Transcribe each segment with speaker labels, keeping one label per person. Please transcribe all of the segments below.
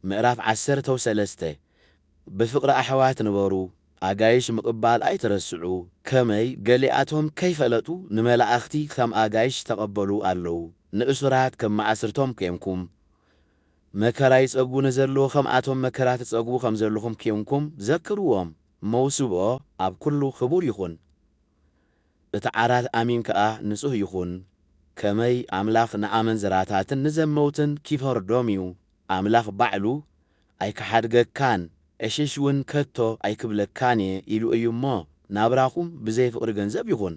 Speaker 1: ምዕራፍ ዓሰርተ ወሰለስተ ብፍቅሪ ኣሕዋት ንበሩ ኣጋይሽ ምቅባል ኣይትረስዑ ከመይ ገሊኣቶም ከይፈለጡ ንመላእክቲ ከም ኣጋይሽ ዝተቀበሉ ኣለው ንእሱራት ከም ማእስርቶም ኴንኩም መከራ ይጸግቡ ንዘለው ከምኣቶም መከራ ትጸግቡ ከምዘለኹም ኴንኩም ዘክርዎም መውስቦ ኣብ ኩሉ ክቡር ይኹን። እቲ ዓራት ኣሚን ከኣ ንጹህ ይኹን፣ ከመይ ኣምላኽ ንኣመንዝራታትን ንዘመውትን ኪፈርዶም እዩ፣ ኣምላኽ ባዕሉ፣ ኣይክሓድገካን፣ ዕሽሽውን ከቶ ኣይክብለካን እየ ኢሉ እዩ እሞ፣ ናብራኹም ብዘይ ፍቕሪ ገንዘብ ይኹን።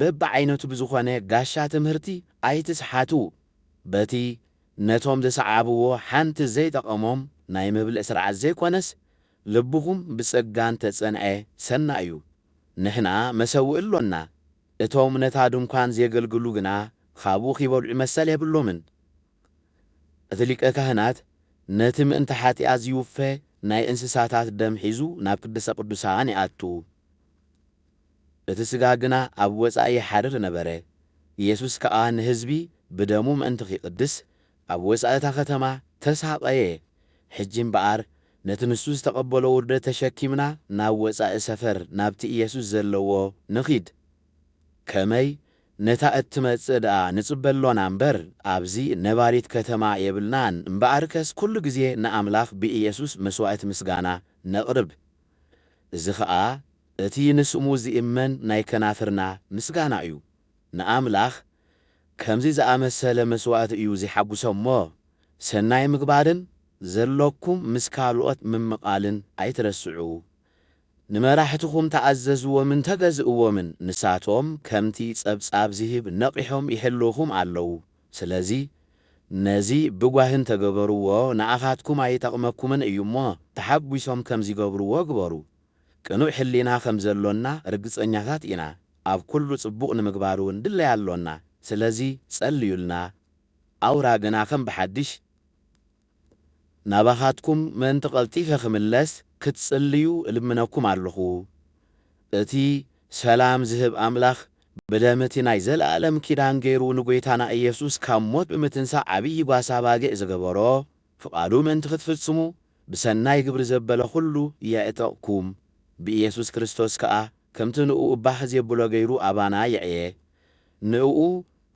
Speaker 1: በብዓይነቱ ብዝኾነ ጋሻ ትምህርቲ ኣይትስሓቱ በቲ ነቶም ዝሰዓብዎ ሓንቲ ዘይጠቐሞም ናይ ምብልዕ ስርዓት ዘይኮነስ ልብኹም ብጸጋ እንተጸንዐ ሰናይ እዩ ንሕና መሰውኢ ኣሎና እቶም ነታ ድንኳን ዜገልግሉ ግና ኻብኡ ኺበልዑ መሰል የብሎምን እቲ ሊቀ ካህናት ነቲ ምእንቲ ሓጢኣት ዚውፈ ናይ እንስሳታት ደም ሒዙ ናብ ቅድስተ ቅዱሳን ይኣቱ። እቲ ሥጋ ግና ኣብ ወጻኢ ይሓድር ነበረ። ኢየሱስ ከኣ ንሕዝቢ ብደሙ ምእንቲ ኺቕድስ፣ ኣብ ወጻኢ እታ ኸተማ ተሳቐየ። ሕጂ እምበኣር፣ ነቲ ንሱ ዝተቐበሎ ውርደት ተሸኪምና ናብ ወጻኢ ሰፈር ናብቲ ኢየሱስ ዘለዎ ንኺድ። ከመይ? ነታ እትመጽእ ደኣ ንጽበ ኣሎና እምበር፣ ኣብዚ ነባሪት ከተማ የብልናን። እምበኣርከስ ኵሉ ጊዜ ንኣምላኽ ብኢየሱስ መሥዋዕቲ ምስጋና ነቕርብ። እዚ ኸኣ እቲ ንስሙ ዚእመን ናይ ከናፍርና ምስጋና እዩ። ንኣምላኽ ከምዚ ዝኣመሰለ መስዋእቲ እዩ ዜሓጕሶ እሞ፣ ሰናይ ምግባርን ዘሎኩም ምስ ካልኦት ምምቓልን ኣይትረስዑ። ንመራሕትኹም ተኣዘዝዎምን ተገዝእዎምን፣ ንሳቶም ከምቲ ጸብጻብ ዚህብ ነቒሖም ይሕልዉኹም ኣለዉ። ስለዚ ነዚ ብጓሂ እንተገበርዎ ንኣኻትኩም ኣይጠቕመኩምን እዩ እሞ ተሓጒሶም ከም ዚገብርዎ ግበሩ። ቅኑዕ ሕሊና ከም ዘሎና ርግጸኛታት ኢና፣ ኣብ ኵሉ ጽቡቕ ንምግባር እውን ድለይ ኣሎና። ስለዚ ጸልዩልና፣ ኣውራ ግና ከም ብሓድሽ ናባኻትኩም ምእንቲ ቐልጢፈ ኽምለስ ክትጽልዩ እልምነኩም ኣሎኹ። እቲ ሰላም ዝህብ ኣምላኽ ብደም እቲ ናይ ዘለኣለም ኪዳን ገይሩ ንጐይታና ኢየሱስ ካብ ሞት ብምትንሳእ ዓብዪ ጓሳ ኣባጊዕ ዝገበሮ ፍቓዱ ምእንቲ ኽትፍጽሙ ብሰናይ ግብሪ ዘበለ ዅሉ የዕጠቕኩም ብኢየሱስ ክርስቶስ ከኣ ከምቲ ንእኡ ባህ ዜብሎ ገይሩ ኣባና የዕየ ንእኡ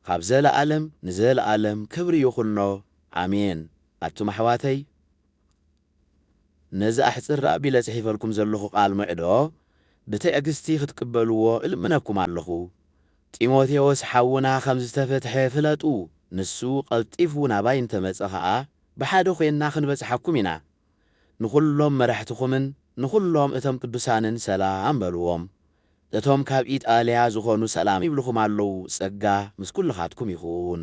Speaker 1: ኻብ ዘለኣለም ንዘለኣለም ክብሪ ይኹኖ ኣሜን ኣቱም ኣሕዋተይ ነዚ ኣሕጽር ኣቢለ ጽሒፈልኩም ዘለኹ ቃል ሞዕዶ ብትዕግስቲ ክትቅበልዎ እልምነኩም ኣለኹ ጢሞቴዎስ ሓውና ከም ዝተፈትሐ ፍለጡ ንሱ ቀልጢፉ ናባይ እንተ መጸ ኸኣ ብሓደ ኮይንና ክንበጽሓኩም ኢና ንኹሎም መራሕትኹምን ንኹሎም እቶም ቅዱሳንን ሰላም በልዎም እቶም ካብ ኢጣልያ ዝኾኑ ሰላም ይብልኹም ኣለዉ ጸጋ ምስ ኩልኻትኩም ይኹን።